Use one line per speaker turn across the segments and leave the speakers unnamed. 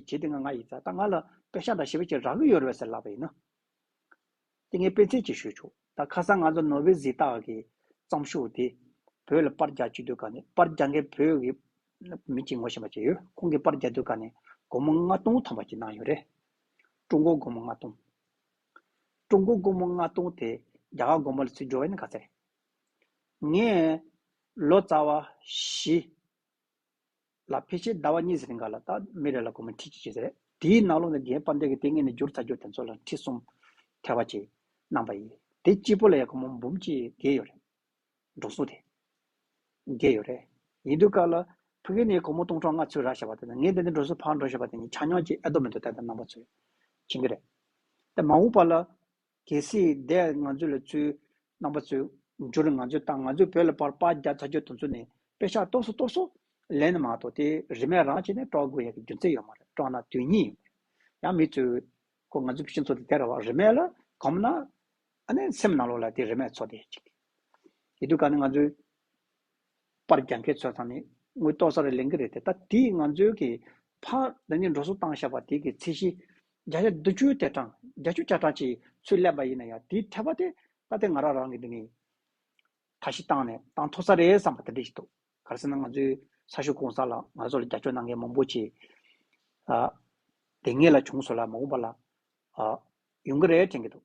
རྗེ་དེ་སྔ་ང་ཡིས་ད་ལྟ་ང་ལ་དཔེ་ཤག་དང་ཞིབ་ཕྲ་ཅིག་རག་གི་ཡོད་རེད་ཟེར་ལབ་པ་ཡིན་ན། དེ་ངས་སྤེན་ཚེ་གཅིག་ཞུས་ཆོག་ད་ཁ་སང་ང་ཚོ་ནོ་བྷེལ་གཟིགས་རྟགས་ཀྱི་བརྩམས་ཤོག་དེ་བོད་ལ་པར་རྒྱག་བཅུག་དུས་ག་ནས་པར་རྒྱག་མཁན་བོད་ཀྱི་མི་གཅིག་ངོ་ཤེས་པ་ཅིག་ཡོད་ཁོང་གིས་པར་རྒྱག་དུས་ག་ནས་སྒོར་མོ་ལྔ་སྟོང་ཐམ་པ་ཅིག་གནང་ཡོད་རེད། ཀྲུང་གོ་སྒོར་མོ་ལྔ་སྟོང། ཀྲུང་གོ་སྒོར་མོ་ལྔ་སྟོང་དེ་རྒྱ་གར་སྒོར་མོ་ལ་ཚུད་འགྲོ་བ་ཡིན་ན་ག་ཚད་རེད། ངས་ལོ་ཙཱ་བ་བཞི། ལ་ཕལ་ཆེར་ཟླ་བ་གཉིས་ཟིན་ག་ལ་ད་མི་རེ་ལ་གོ་མི་ཁྲི་གཅིག་བྱས་ཟེར་དེའི་ནང་ལོ་ནས་རྒན་པ་འདས་ཀྱི་ལྟས་ངན་ནས་བསྒྱུར་ཚར་རྒྱུ་དེ་ཚོ་ལ་ཁྲི་གསུམ། ཐལ་བ་གཅིག། གནང་བ་ཡིན། དེ་གཅིག་པོ་ལ་ཡང་གོ་མོ་འབུམ་གཅིག་བརྒལ་ཡོད་རེད། འགྲོ་སོང་དེ། བརྒལ་ཡོད་རེད། ཡིན་དུས་ག་ལ། ཕ་གི་ནས་གོ་མོ་སྟོང་ཕྲག་ལྔ་ཚུད་རག་ཞེས་པ་དེ་དང་ངས་དེ་ནས་འགྲོ་སོང་ཕར་འགྲོ་ཞེས་པ་དེ་གཉིས་ཆ་ཉོག་ཅིག་ཨེ་ལྡོག་མི་འདུག་དེ་ལྟར་གནང་བ་ཚོས། བྱིན་གྱི་རེད། དེ་མ་འོངས་པ་ལ། གལ་སྲིད་འདས་ང་ཚོས་ལས་ཚུལ་རྣམ་པ་ཚོས་འགྱུར་ང་ཚོས་དང་ང་ཚོའི་བོད་ལ་བར་པ་རྒྱ་ཚ་རྒྱུ་དུང་ཚོ་ནས་དཔེ་ཆ་གཏོར་སོ་གཏོར་སོ། ལན་མ་གཏོགས་དེ་རིན་མེད་རང་བྱས་ནས་དཀྲོག་དགོས་ཡག་གི་རྒྱུ་མཚན་ཡོད་མ་རེད་དཀྲོག་ན་དོན་སྙིང་ཡོད་མ་རེད་ཡང་མི་ཚོས་ཁོ་ང་ཚོའི་ཕྱི་ཚོ་དེ་དེར་བ་རིན་མེད་ལ་གོམས་ན་ཨ་ནེ་སེམས་ནང་ལོག་ལ་དེ་རིན་མེད་ཚོ་དེ་གཅིག་ཡེ་དུས་ག་ནས་ང་ཚོའི། པར་རྒྱག་མཁན་ཚོས་ད་ནི་དངུལ་ཏོག་ས་རེ་ལེན་གི་རེད་དེ་ལྟ་དེས་ང་ཚོའི་གི་ཕ་འདི་ནི་འགྲོ་སོང་བཏང་བཞག་པ་དེ་གི་ཚད་གཞི་བརྒྱ་ཆ་བདུན་ཅུའི་ཐད་གྲངས་བརྒྱ་བཅུ་བརྒྱ་ཕྲག་ཅིག་ཚུད་སླེབས་པ་ཡིན་ན་ཡང་དེའི་ཐད་པ་དེ་ལྟ་དེ་ང་རང་རང་གི་འདི་ནི་ད་ཞིག་བཏང་ནས་བཏང་ཐུབ་ས་རེད་བསམ་པ་དེ་འདྲ་ཞིག་འདུག་ག་རེ་ཟེར་ན་ང་ཚོའི་ས་ཞོ་གོང་ས་ལ་ང་ཚོ་ལ་རྒྱབ་སྐྱོར་གནང་མཁན་མང་པོ་ཆེ་ལ་དེ་སྔའི་ལ་བྱུང་སོང་ལ་མ་འོངས་པ་ལ་ཡོང་གི་རེད་དྲན་གི་འདུག།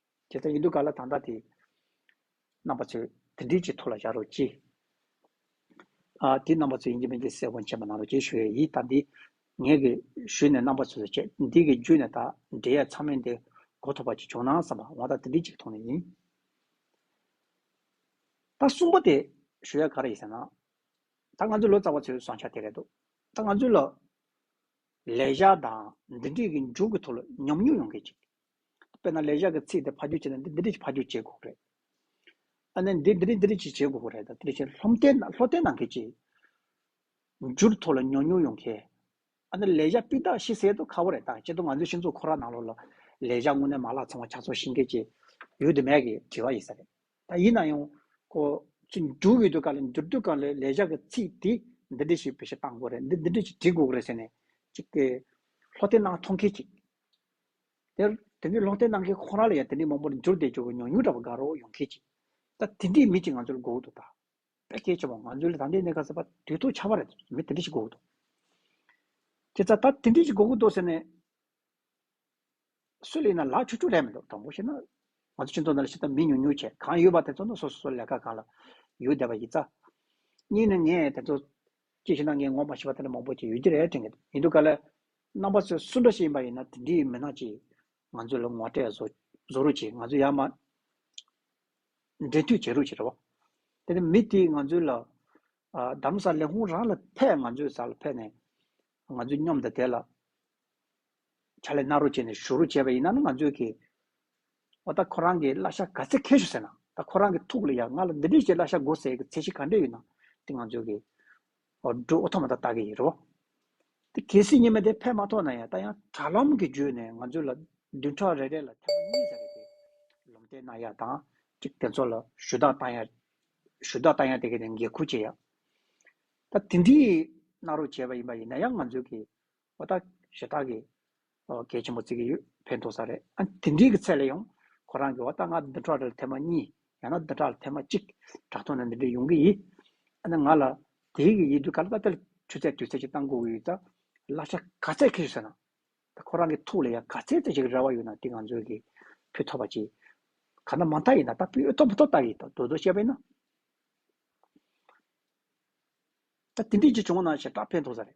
ཁྱེད་རང་ཡིན་དུས་ག་ལ་དང་བདག་དེ། རྣམ་པ་ཚོས་དེ་འདྲིའི་ཅི་ཐུགས་ལ་བཞག་རོགས་གྱིས། ཨ། དེ་རྣམ་པ་ཚོས་ཡིན་གྱི་མིན་གྱི་གསལ་བོ་མཁྱེན་པ་གནང་རོགས་གྱིས་ཞུ་ཡས་ཡིད་ད་འདི། ངས་གི་ཞུས་ནས་རྣམ་པ་ཚོས་བྱས་འདི་གི་རྒྱུད་ནས་ད་འབྲེལ་ཡས་ཚང་མས་འདི་གོ་ཐོབ་པ་ཅིག་བྱུང་ན་བསམ་པ་འོང་ད་དེ་འདྲིའི་ཅིག་མཐོང་ནས་ཡིན། ད་གསུངས་པ་དེ་ཞུ་ཡས་ག་རེ་ཡིན་ཟེར་ན། ད་ང་ཚོའི་ལོ་ཙཱ་བ་ཚོའི་བཟང་ཆ་དེ་རེད་འདུག་ད་ང་ཚོའི་ལ། ལས་བཞག་དང་འདི་འདྲིས་གི་མཇུག་གི་ཐུགས་ལ་ཉམས་མྱོང་ཡོང་གྱིས་ཅིག། དཔེར་ན་ལས་བྱ་གི་ཚིག་དེ་ཕ་རྒྱུད་བྱེད་ན་འདི་འདི་འདྲི་ཕ་རྒྱུད་བྱེད་དགོས་རེད། ཨ་ནི་འདི་འདི་འདྲི་འདི་འདྲི་བྱེད་དགོས་རེད་དང་དེ་འདྲ་བྱེད་ལྷོམ་ལྟའི་ལྷོ་ལྟའི་ནང་གི་ཅིག། འཇུར་ཐོག་ལ་ཉོག་ཉོག་ཡོང་མཁན། ཨ་ནི་ལས་བྱ་སྤུས་དག་ཤི་གསལ་དུ་ཁ་བོ་རེད་དང་ཅེས་དུ་ང་ཚོའི་ཤིང་འཛུགས་ཁོ་ར་ནང་ལོགས་ལ་ལས་བྱ་དངོས་གནས་མ་ལག་ཚང་བ་ཆགས་ཚོར་ཤིང་སྐད་ཅིག་ཡོད་དུ་མེད་ཀྱིས་དྲི་བ་ཡིན་ས་རེད། ད་ཡིན་ན་ཡང། ཁོ་ཚོས་འཇུར་བའི་དུས་སྐབས་ལ་འཇུར་དུས་སྐབས་ལ་ལས་བྱ་གི་ཚིག་དེ་འདི་འདྲི་ཞེས་བེད་སྤྱོད་གཏང་དགོས་རེད་འདི་འདི་འདྲི་ཞེས་འདྲི་དགོས་རེད་ཟེར་ནས་ཅིག། ལྷོ་ལྟའི་ནང་མཐོང་མཁན་ཅིག། དེར་དེ་འདྲའི་ལོག་ལྟའི་ནང་གི་ཁོ་རང་ལ་ཡང་དེ་འདྲའི་མང་པོར་འགྱུར་བདེ་འགྱུར་བའི་ཉོག་ཉུང་འདྲ་བ་དགའ་རོགས་ཡོང་ཁེལ་ཅིག། ད་དེ་འདྲའི་མི་ཅིག་ང་ཚོར་འགོག་འདུག་ད། དཔེ་གལ་ཆེ་བ་ང་ཚོའི་ལ་ད་འདི་གནས་ག་ས་པ་དུས་ཐོག་ཆར་བ་རེད་མི་དེ་འདྲ་ཞིག་འགོག་འདུག། ཁྱེད་ཚ་ད་དེ་འདྲའི་ཞིག་འགོག་གི་འདུག་ཟེར་ནས། སུ་ལ་ཡིན་ན་ལག་ཆུ་ཆུ་རེད་མི་འདུག་དྲང་པོ་བཤད་ན། ང་ཚོ་སྤྱི་ཚོགས་ནང་ལ་ཤི་ད་མི་ཉུང་ཉུང་ཆེ་གང་ཡོད་པ་དེ་ཚོ་ནི་སོ་སོ་སོ་ལས་ཀ་གང་ལ་ཡོད་བསྡད་པ་ཡིན་ཙང། གཉིས་ནི་ངས་དེ་ཚོ། ཅིག་བྱས་ན་ངའི་ངོ་མ་ཤི་བ་དེ་འདྲ་མང་པོ་ཅིག་ཡོད་ཀྱི་རེད་དྲན་གྱི་འདུག་ཡིན་དུས་ག་ལ། རྣམ་པ་ཚོས་སུ་འདྲ་ཞིག་ཡིན་པ་ཡིན་ན་དེ་འདྲའི་མི་སྣ་ཅིག་ང་ཚོ་ལ་ངོ་སྤྲད་བཟོ་རུ་ཆེ་ང་ཚོ་ཡར་མར་འབྲེལ་མཐུད་བྱེད་རུ་ཆེ་རེད་བ། དེ་ནི་མི་དེས་ང་ཚོ་ལ་གདམ་ས་ལས་ཁོང་རང་ལ་ཕེབས་ང་ཚོའི་ས་ལ་ཕེབས་ནས་ང་ཚོའི་སྙོམ་དང་དེ་ལ་ཕྱག་ལས་གནང་རུ་ཆེ་ནས་ཞུ་རུ་ཆེ་བ་ཡིན་ན་ནི་ང་ཚོས་གིས་འོ་ད་ཁོ་རང་གིས་གླ་ཤ་ག་ཚད་ཁེལ་ཞུ་ཟེར་ན་ད་ཁོ་རང་གིས་ཐུགས་ལ་ཡ་ང་ལ་འདི་འདྲའི་ཞིག་གླ་ཤ་དགོས་ཟེར་གི་ཚད་གཞི་ག་འདྲའི་ཡོད་ན་དེ་ང་ཚོས་གིས་འོ་འགྲོ་འོ་ཐོག་མ་ད་ལྟ་གི་ཡིན་རོ། དེ་གལ་སྲིད་ཉི་མ་དེ་ཕེབས་མ་ཐོག་ན་ཡང་ད་ཡང་དྲ་ལམ་གྱི་བརྒྱུད་ནས་ང་ཚོའི་ལ་བདུན་ཕྲག་རེ་རེ་ལ་ཐེངས་མ་གཉིས་ཙམ་རེ་དེ་ལུམ་བསྟན་གནང་ཡག་དང་གཅིག་དེ་ཚོ་ལ་ཞུ་དག་གཏང་ཡག་ཞུ་དག་གཏང་ཡག་དེ་གས་ནས་འགན་ཁུར་བྱེད་ཡག། ད་དེ་འདྲིའི་གནང་རོགས་བྱས་པ་ཡིན་པ་ཡིན་ན་ཡང་ང་ཚོའི་གི་བ་དག་གཞི་བདག་གི། གལ་ཆེན་པོ་བརྩི་གི་ཡོད་ཕན་ཐོགས་ས་རེད་ཨ། དེ་འདྲིའི་གི་ཚད་ལ་ཡང། ཁོ་རང་གི་བ་ད་ང་འདི་འདྲ་ལ་ཐེ་མ་གཉིས། ཡང་ན་འདི་འདྲ་ལ་ཐེ་མ་གཅིག། དྲ་ཐོག་ན་འདི་འདྲ་ཡོང་གི་ཡིད། ཨ་ན་ང་ལ། དེའི་གི་ཡིད་དུ་ག་ལ་ད་དེར་ཆུ་ཚད་དུས་ཚད་ཅིག་བཏང་དགོས་གི་ཡོད་ད། གླ་ཆ་ག་ཚད་ཁེ་རེད་ཟེར་ན། ད་ཁོ་རང་གི་ཐུགས་ལ་ཡང་ག་ཚད་ཚད་ཅིག་རེ་བ་ཡོད་ན་དེ་ང་ཚོས་གི། ཕུལ་ཐོབ་པ་ཅིག། ག་ན་མ་མཐའ་ཡིན་ན་ད་ཕུལ་ཐོབ་མི་ཐོབ་བལྟ་གི་ཡིད་ད་རྡོ་རྡོ་བཤད་པ་ཡིན་ན། ད་དེ་འདྲིའི་གི་བྱུང་ན་གཞི་བདག་ཕན་ཐོགས་ས་རེད།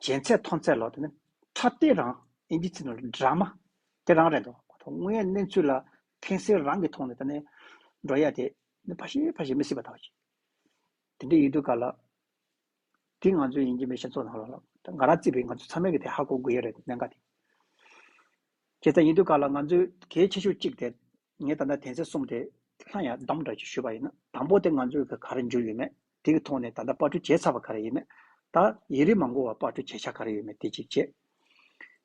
བྱས་ཚད་མཐོང་ཚད་ལོག་དེ་ནི་ཁྲ་ལྟས་རང་ཨིན་ཇི་ཚིག་ནོར་འདྲ་མ་དེ་རང་རེད་འདུག་དངོས་ཡོད་གནས་ཚུལ་ལ་ཕན་སེལ་རང་གི་ཐོག་ནས་ད་ནས་འགྲོ་ཡ་དེ་ནི་ཕ་ཞེས་ཕ་ཞེས་མི་སྲིད་པ་དག་ཅིག་དེ་འདྲས་ཡོད་དུས་ག་ལ། འདི་ང་ཚོའི་ཡིན་གྱི་མེད་ཤེས་ཚོགས་ནང་ལ་ལབ་ད་ང་རང་བརྩིས་པའི་ང་ཚོ་ཚང་མའི་གི་དེ་ཧ་གོ་དགོས་ཡ་རེད་གནད་འགག་དེ་བྱས་ཚད་ཡིན་དུས་ག་ལ་ང་ཚོའི་གལ་ཆེ་ཤོས་གཅིག་དེ་ངས་ད་ལྟ་དེ་ཚེ་གསུམ་དེ་ལྷ་ཡར་བསྡོམས་འདྲ་ཅིག་ཞུས་པ་ཡིན་ན་དང་པོ་དེ་ང་ཚོའི་ག་ག་རེ་འགྱུར་ཡོད་མེད། དེ་གི་ཐོག་ནས་ད་ལྟ་དཔར་སྐྲུན་བྱས་ཚར་བ་ག་རེ་ཡིན་མེད། ད་ཡིན་རིང་མ་འགོར་བར་དཔར་སྐྲུན་བྱེད་འཆར་ག་རེ་ཡོད་མེད་དེ་གཅིག་བྱེད།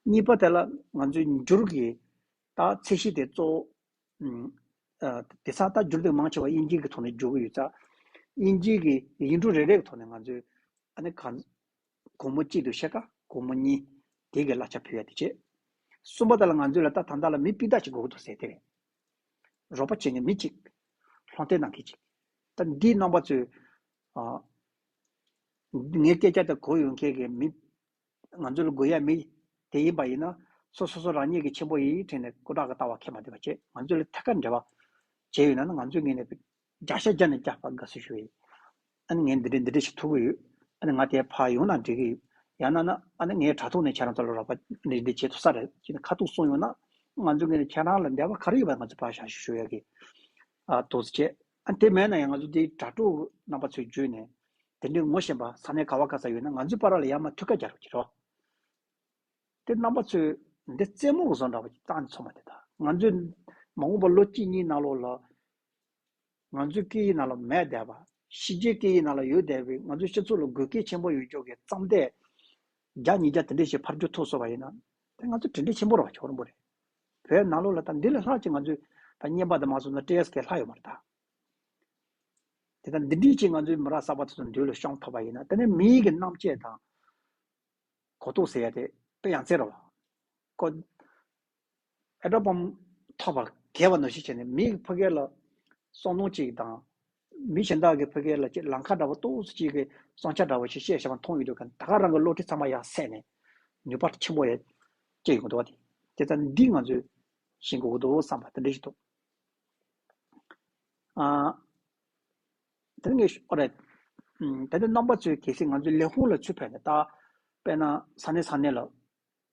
གཉིས་པ་དེ་ལ་ང་ཚོས་འགྱུར་གི་རྟགས་ཚད་གཞི་དེ་གཙོ་བོ། དེ་སང་རྟགས་འགྱུར་དེ་མང་ཆེ་བ་དབྱིན་སྐད་ཀྱི་ཐོག་ནས་འགྱུར་གི་ཡོད་ཚ། དབྱིན་སྐད་ཀྱི་ཡིག་འབྲུ་རེ་རེ་གི་ཐོག་ནས་ང་ཚོས་ཨ་ནི་གང། དགོང་མོ་གཅིག་ཏུ་བཤད་དཀའ་དགོང་མོ་གཉིས། དེ་གི་གླ་ཆ་ཕུལ་ཡ་དེ་བྱེད། གསུམ་པ་དེ་ལ་ང་ཚོས་ལ་རྟགས་དང་རྟགས་ལ་མི་སྤུས་རྟགས་ཤིག་དགོས་ཀྱི་འདུག་ཟེར་དེ་རེད། རོགས་པ་བྱེད་ནི་མི་གཅིག། ལྷོ་མཐའི་ནང་གི་གཅིག། ད་འདིའི་རྣམ་པ་ཚོས། ངའི་སྐད་ཆ་དེ་གོ་ཡོང་མཁན་གྱི་མི། ང་ཚོ་ལ་དགོས་ཡ་མི། དེ་ཡིན་པ་ཡིན་ན། སོ་སོ་སོ་རང་ཉིད་ཀྱི་ཆེན་པོ་ཡི་ཡི་ཁྲིད་ནས་སྐུ་དྲག་གི་ལྟ་བ་ཁས་མ་བསྡུས་པ་བཅས་ང་ཚོ་ལ་ཐད་ཀར་འབྲེལ་བ། བྱས་ཡོད་ན་ང་ཚོས་ངེས་ནས། བརྒྱ་ཤ་བརྒྱ་ནས་བརྒྱ་བར་དགའ་བསུ་ཞུ་ཡི། ཨ་ནི་ངས་འདི་འདྲས་འདི་འདྲས་ཞིག་ཐུག་གི་ཡོད། ཨ་ནི་ང་དེ་ཕར་ཡོང་ན་འགྲིག་གི་ཡོད། ཡང་ན་ན་ཨ་ནི་ངས་དྲ་ཐོག་ནས་ཁྱེད་རང་ཚོ་ལ་རོགས་པ་འདི་འདི་བྱེད་ཐུབ་ས་རེད་ཅེས་ཁ་ཐུག་གསུངས་ཡོང་ན། ང་ཚོས་ངེས་ནས་ཁྱེད་རང་ལ་འབྲེལ་བ་ག་རེ་ཡོད་པ་ང་ཚོས་ཕར་བཞག་ཞུ་ཞུ་ཡོད་གི། ཨ་དོགས་ཅེས། ཨ་ནི་དེ་མེད་ན་ཡང་ང་ཚོ་འདི་དྲ་གྲོགས་རྣམ་པ་ཚོས་བརྗོད་ནས། དེ་འདྲའི་ངོ་ཤེས་པ་ས་གནས་ག་བ་ག་ས་ཡོད་ན་ང་ཚོའི་པར་ར་ལ་ཡར་མར་ཐུགས་ཀ་རྒྱག་རོགས་གྱིས་རོགས། དེ་རྣམ་པ་ཚོས་འདི་རྩེད་མོ་གཟོ་འདྲ་བ་ཅིག་བཏང་ནས་འཚོ་མ་བསྡད་ད། ང་ཚོས་མ་འོངས་པར་ལོ་གཅིག་གཉིས་ནང་ལོགས་ལ། ང་ཚོའི་སྐད་ཡིག་ནང་ལ་མེད་བསྡད་པ། ཕྱི་རྒྱལ་སྐད་ཡིག་ནང་ལ་ཡོད་བསྡད་པའི་ང་ཚོའི་སྤྱི་ཚོགས་ལ་དགོས་གལ་ཆེན་པོ་ཡོད་ཆོག་གི་བརྩམས་ཏེ། བརྒྱ་ཉིས་བརྒྱ་དེ་འདྲའི་ཞིག་ཕར་འགྱུར་ཐུབ་སོང་བ་ཡིན་ན། དེ་ང་ཚོ་དྲིན་དྲན་ཆེན་པོ་རོགས་ཆོག་རུང་བོ་རེད། བོད་ནང་ལོགས་ལ་ད་འདི་ལས་ལྷག་ཅིག་ང་ཚོས་ད་བརྙན་པར་དུ་མ་སོང་ན་བཀྲེས་སྐལ་ལྷག་ཡོད་མ་རེད་དཱ། དེ་ད་འདི་འདྲིའི་ཆེད་ང་ཚོའི་མི་རང་གསར་པ་ཚོ་དང་འདུས་ལ་ཤོང་ཐོབ་པ་ཡིན་ན་དེ་ནི་མིའི་གི་རྣམ་དཔྱད་དང། གོ་རྟོགས་ཟེར་ཡ་དེ་དཔེ་ཡང་བཙལ་རོགས། ཀོ། ཨེ་དྲོ་པའམ་ཐོགས་པར་གལ་བ་ན་གཞི་བྱས་ནས་མིའི་ཕ་སྐད་ལ་སོང་ནོ་གཅིག་དང། མི་གཞན་དག་གི་ཕ་སྐད་ལ་ལ་མཁའ་འདྲ་བ་སྟོང་སོ་གཅིག་གི་སོང་ཆ་འདྲ་བ་ཞིག་བཤད་བཞིན་པ་མཐོང་ཡོད་འདུག་གམ་ད་ག་རང་གི་བློ་ཁྲིད་ཚང་མ་ཡང་སད་ནས་ནུས་པ་ཆེན་པོ་ཡང་སྐྱེས་ཡོང་འདུག་དེ་ཚ་འདི་ང་ཚོས་ཤེས་དགོས་འདུག་བསམ་པ་དེ་འདྲ་ཞིག་འདུག་ཨ། དེ་ནས་ཨོ་རེད། ད་ནི་རྣམ་པ་ཚོས་གལ་སྲིད་ང་ཚོའི་ལས་ཁུངས་ལ་ཚུར་ཕེབས་ནས་བལྟ། དཔེར་ན་ས་གནས་ས་གནས་ལ།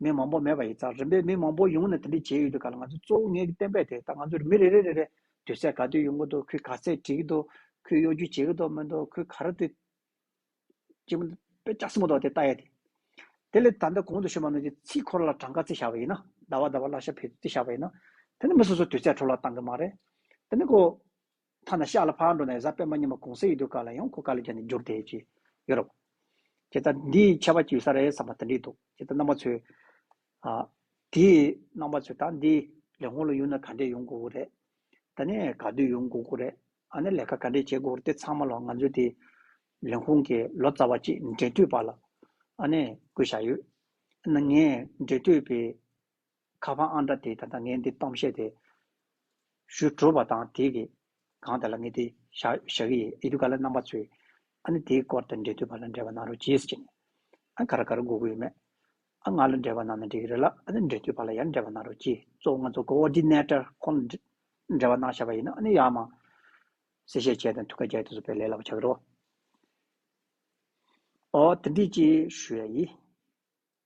མི་མང་པོ་མེད་པ་ཡིན་ཙང་རིམ་པས་མི་མང་པོ་ཡོང་ནས་དེ་འདྲ་བྱས་ཡོད་འདུག་ག་ལ་ང་ཚོས་གཙོ་བོ་ངས་བསྟན་པའི་དེ་ད་ང་ཚོར་མི་རེ་རེ་རེ་རེ་སྡོད་ས་ག་དུས་ཡོང་གི་འདུག་ཁོས་ག་ཚད་བྲིས་ཀྱི་འདུག་ཁོས་གཡོ་སྒྱུ་བྱེད་ཀྱི་འདུག་མི་འདུག་ཁོས་ག་རེ་དེ་ཅི་མི་དཔེ་ཆ་གསུངས་མི་འདུག་དེ་ལྟ་ཡ་དེ། དེ་ལས་ད་ལྟ་གོང་དུ་ཞུས་པ་ནང་བཞིན་ཚིག་འཁོར་ལ་གྲངས་ཀ་རྩི་བཞག་པ་ཡིན་ན་ཟླ་བ་ཟླ་བ་བརླ་ཤ་འཕེལ་དུ་རྩི་བཞག་པ་ཡིན་ན། དེ་ནི་མི་སོ་སོ་དུས་ཚད་འཕྲོ་བརླག་བཏང་གི་མ་རེད། དེ་ནི་ཁོ། ཐ་ན་ཤག་ལ་ཕར་འགྲོ་ནས་གཟའ་སྤེན་པ་ཉིན་མོ་གུང་ཟས་ཡི་དུས་ཀ་ལ་ཡང་ཁོ་ཀ་ལི་ཀྱ་ནས་འགྱུར་ཏེ་ཅི་ཡོད་རོགས། ཁྱེད་ད་འདི་ཆད་པ་གྱིས་ས་རེད་བསམ་པ་དེ་འདྲིས་འདུག་ཁྱེད་ད་རྣམ་པ་ཚོས། ཨ། དེ་རྣམ་པ་ཚོས་ད་འདི་ལས་སྔོན་ལ་ཡུལ་ན་ག་འདྲས་ཡོང་དགོས་དགོས་རེད། ད་ནས་ག་དུས་ཡོང་དགོས་དགོས་རེད། ཨ་ནས་ལས་ཀ་ག་འདྲས་བྱེད་དགོས་རེད་དེ་ཚང་མ་ལ་ང་ཚོའི་དེ་ལས་ཧུང་གི་ལོ་ཙཱ་བ་གཅིག་འབྲེལ་མཐུད་པ་ལ་ཨ་ནས་བསྐུལ་བཞག་ཡོད། ཨ་ནས་ངས་འབྲེལ་མཐུད་པའི་ཁ་བ་ཨང་འདྲ་དེས་ད་ལྟ་ངས་འདི་གཏོང་བཤད་དེ། ཞུ་གྲུབ་པ་དང་དེ་གིས་གང་བལྟ་ལ་ངས་དེ་བཞག་གི་ཡིན་ཨེ་འདུག་ག་ལ་རྣམ་པ་ཚོས་ཨ་ནི་དེའི་སྐོར་དང་འབྲེལ་འདུས་པ་ལ་འབྲེལ་བ་གནང་རོགས་གྱིས་ཅི་ནས་ཨ་ག་ར་ག་ར་སྒུག་གི་ཡོད་མེད་ཨ་ང་ལ་འབྲེལ་བ་གནང་ན་འགྲིག་གི་རེད་ལ་ཨ་ནི་འབྲེལ་འདུས་པ་ལ་ཡང་འབྲེལ་བ་གནང་རོགས་གྱིས་གཙོ་བོ་ང་ཚོ Coordinator ཁོང་ལ་འབྲེལ་བ་གནང་ཤག་པ་ཡིན་ན་ཨ་ནི་ཡག་མ་གསལ་བཤད་བྱས་དང་ཐུགས་ཁ་རྒྱག་དུས་སུ་བེད་ལེ་ལ་བ་བྱ་གི་རོགས། ཨོ་དེ་འདྲས་ཅི་ཞུ་ཡ་ཡིན།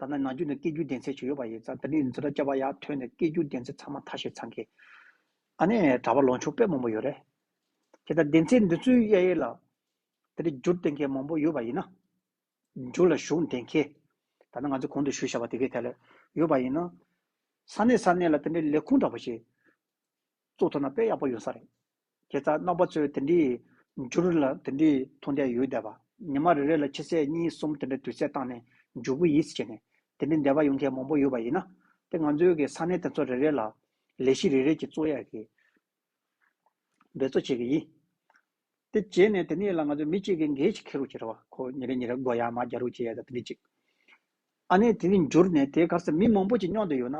ད་ནངས་རྒྱུན་དུ་སྐད་སྒྱུར་བདེན་ཚད་ཇི་ཡོད་པ་ཡིན་ཙང་ད་ནི་འཛུ་ར་བཅའ་བ་ཡག་ཐོན་ནས་སྐད་སྒྱུར་བདེན་ཚད་ཚང་མ་མཐའ་བཞིར་ཚང་གི། ཨ་ནེ། གྲྭ་པ་ལོ་ཆུང་དཔེ་མང་པོ་ཡོད་རེད། དེ་ལྟར་བདེན་ཚད་འདི་ཚོའི་གཡས་གཡོན་ལ། ད་ནི་སྒྱུར་བདེན་མཁན་མང་པོ་ཡོད་པ་ཡིན་ན། སྒྱུར་ལ་ཞུགས་བདེན་མཁན། ད་ནི་ང་ཚོས་གོང་དུ་ཞུས་བཞག་པ་དེ་གའི་ཐད་ལ་ཡོད་པ་ཡིན་ན། ས་གནས་ས་གནས་ལ་དེ་འདྲའི་ལས་ཁུངས་འདྲ་པོ་ཞིག། བཙུགས་ཐུབ་ན་དཔེ་ཡག་པོ་ཡོང་ས་རེད། ཁྱེད་ཅག་རྣམ་པ་ཚོས་དེ་འདྲའི། འགྱུར་ལ་དེ་འདྲའི་མཐོང་རྒྱ་ཡོད་བསྡད་པ། ཉི་མ་རེ་རེ་ལ་ཕྱི་ཚེས་གཉིས་གསུམ་དེ་འདྲའི་དུས་ཚད་བཏང་ནས་མཇུག་བུ་ཡིས་བྱས་ནས། དེ་འདྲའི་འདས་པ་ཡོང་མཁན་མང་པོ་ཡོད་པ་ཡིན་ན། དེ་ང་ཚོའི་གི་ས་གནས་དེ་ཚོ་རེ་རེ་ལ། ལས་གཞི་རེ་རེ་གྱི་གཙོ་ཡག་གིས། འབད་བརྩོ་བྱེད་གི་ཡིན། དེ་བྱས་ནས་དེ་ནས་ལ་ང་ཚོ་མི་གཅིག་གིས་འགའི་ཞིག་ཁེ་རུ་བྱེད་ར་བ་ཁོ་ཉེ་རེ་ཉེ་རེ་སྒོ་ཡ་མ་རྒྱ་རུ་བྱེད་ཡ་ད་དེ་འདྲའི་གཅིག། ཨ་ནེ་དེ་འདྲའི་འགྱུར་ནས་དེའི་གར་ས་མི་མང་པོ་གྱི་སྙོག་དུ་ཡོད་ན།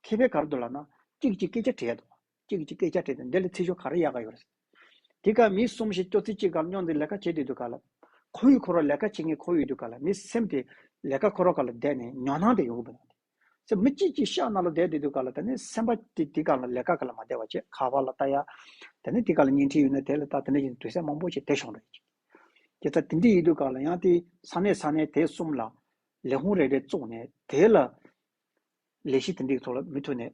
མཁས་པའི་གར་དུ་ལ་ན། གཅིག་གཅིག་སྐད་ཆ་དྲི་ཡ་ད་བ། ཅིག་ཅིག་སྐད་ཆ་དྲིས་དང་འདི་ལ་ཚིག་ཤོ་ག་རེ་ཡག་ག་ཡོད་རེད། དེ་ག་མི་གསུམ་ཞིག་སྐྱོ་ཚིག་གཅིག་གར་རྙོག་འདི་ལས་ཀ་བྱེད་དུས་དུས་ག་ལ། ཁོ་ཡུལ་འཁོར་བ་ལས་ཀ་བྱེད་མཁན་ཁོ་ཡུལ་དུས་ག་ལ་མི་སེམས་དེ་ལས་ཀ་འཁོར་བ་ག་ལ་བསྡད་ནས་ཉོག་སྣང་དེ་ཡོང་གི་མི་འདུག་སེམས་མི་གཅིག་གཅིག་ཤག་ན་ལོ་བསྡད་དུས་དུས་ག་ལ་ད་ནི་སེམས་པ་དེ་དེ་ག་ལ་ལས་ཀ་ག་ལ་མ་བསྡད་བ་བྱས་ཁ་བ་ལ་ལྟ་ཡ། ད་ནི་དེ་ག་ལ་བརྙན་འཕྲིན་ཡོད་ན་དེ་ལ་ལྟ་དེ་འདྲ་ཞིག་དུས་ཚད་མང་པོ་ཞིག་དེ་ཤོང་རེ་ཅིག་དེ་ལྟ་དེ་འདྲ་ཡིན་དུས་ག་ལ་ཡང་དེ་ས་གནས་ས་གནས་དེ་གསུམ་ལ་ལས་ཁུངས་རེ་རེ་བཙུགས་ནས་དེ་ལ་ལས་གཞི་དེ་འདྲ་ཡི་ཐོག་ལ་མི་ཐུག་ནས།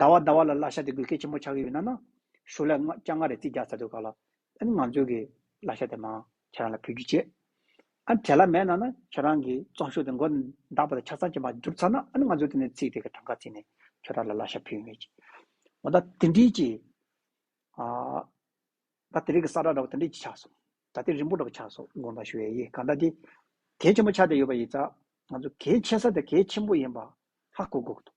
ཟླ་བ་ཟླ་བ་ལ་གླ་ཤ་དེ་དགོས་གལ་ཆེན་པོ་ཆགས་ཀྱི་ཡོད་ན་ན། ཞོ་ལས་ལྔ་སྐྱ་ལྔ་རེ་རྩིས་རྒྱག་ཚར་འདུག་ག་ལ། ཨ་ནི་ང་ཚོའི་གི་གླ་ཤ་དེ་མང་ཁྱེད་རང་ལ་ཕུལ་རྒྱུ་བྱེད། ཨ་ནི་དེ་ལ་མེད་ན་ན་ཁྱེད་རང་གི་བཙོང་ཤོག་དེ་མགོ་འདག་པ་དང་ཆ་ཚང་ཅན་པ་བསྒྱུར་ཚར་ན་ཨ་ནི་ང་ཚོས་དེ་ནས་ཚིག་དེ་གི་གྲངས་ཀ་བརྩིས་ནས་ཁྱེད་རང་ལ་གླ་ཤ་ཕུལ་ངེས། འོ་ད་དེ་འདྲིའི་གི། ཨ། ད་དེ་རིགས་གི་ས་ར་འདྲ་བོ་དེ་འདྲིའི་གི་ཆགས་སོང། ད་དེ་རིང་པོ་འདྲ་བོ་ཆགས་སོང་དགོངས་དག་ཞུ་ཡ་ཡི་ག་ད་དེ། གལ་ཆེན་པོ་ཆགས་བསྡད་ཡོད་པ་ཡིན་ཙང། ང་ཚོ་གལ་ཆེ་ས་དེ་གལ་ཆེན་པོ་ཡིན་པ་ཧ་གོ་དགོས་ཀྱི་འདུག་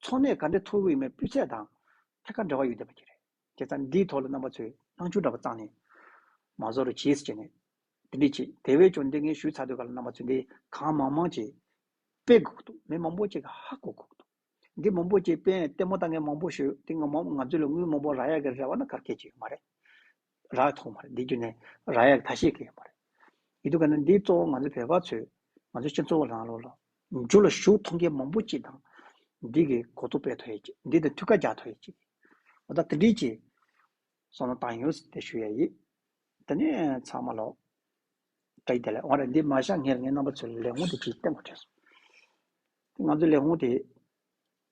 འཚོ་གནས་ག་འདྲའི་མཐོ་རུ་ཡོད་མེད་སྤུས་ཚད་དང་ཐད་ཀར་འབྲེལ་བ་ཡོད་བསྡད་པ་ཁྱེད་རེད། དེ་ཚ་འདིའི་ཐོག་ལ་རྣམ་པ་ཚོས་སྣང་ཆུང་འདྲ་པོ་བརྩངས་ནས། མ་བཟོ་རུ་གྱིས་ཟེར་ནས། འདི་འདྲས་ཆེད་དེ་བས་ཀྱང་འདི་ངས་ཞུས་ཚར་དུས་ག་ལ་རྣམ་པ་ཚོས་འདི་གང་མང་མང་ཅེས། དཔེ་དགོས་འདུག་མི་མང་པོ་ཅིག་གིས་ཧ་གོ་གོ་འདུག་འདི་མང་པོ་ཅིག་དཔེ་ལྟད་མོ་ལྟ་མཁན་མང་པོ་ཞིག་འདུག་འདི་ང་ཚོ་ལ་དངུལ་མང་པོ་རག་ཡ་གི་རེ་བ་ན་གར་སྐད་ཅིག་ཡོད་མ་རེད། རག་མཐོང་བ་རེད་འདི་བརྒྱུད་ནས་རག་ཡག་ཐ་ཤེས་གི་ཡོད་པ་རེད་ཡིན་དུ་ག་ནི་འདི་གཙོ་བོ་ང་ཚོ་བོད་པ་ཚོས་ང་ཚོའི་སྤྱི་ཚོགས་རང་ལོ་ལ་འཇུག་ལ་ཞུགས་མཐོང་མཁན་མང་པོ་ཅིག་དང་འདི་གི་གོ་རྟོགས་སྤེལ་ཐོ་ཡི་ཅིག་འདི་དང་ཐུགས་ཁ་རྒྱག་ཐོ་ཡི་ཅིག་ཨོ་ད་དེ་འདྲིའི་ཅིག་སོང་ན་དང་ཡོང་ཟིག་དེ་ཞུ་ཡ་ཡིག་དེ་ནས་ཚང་མ་ལོག་དྲ་ཡི་དེ་ལས་འོང་རེད་འདི་མ་བཞག་ངས་ངའི་རྣམ་པ་ཚོས་ལས་འོང་དེ་ཅིག་བསྟན་དགོས་བྲོས་སོང་ང་ཚོ་ལས་འོང་དེ།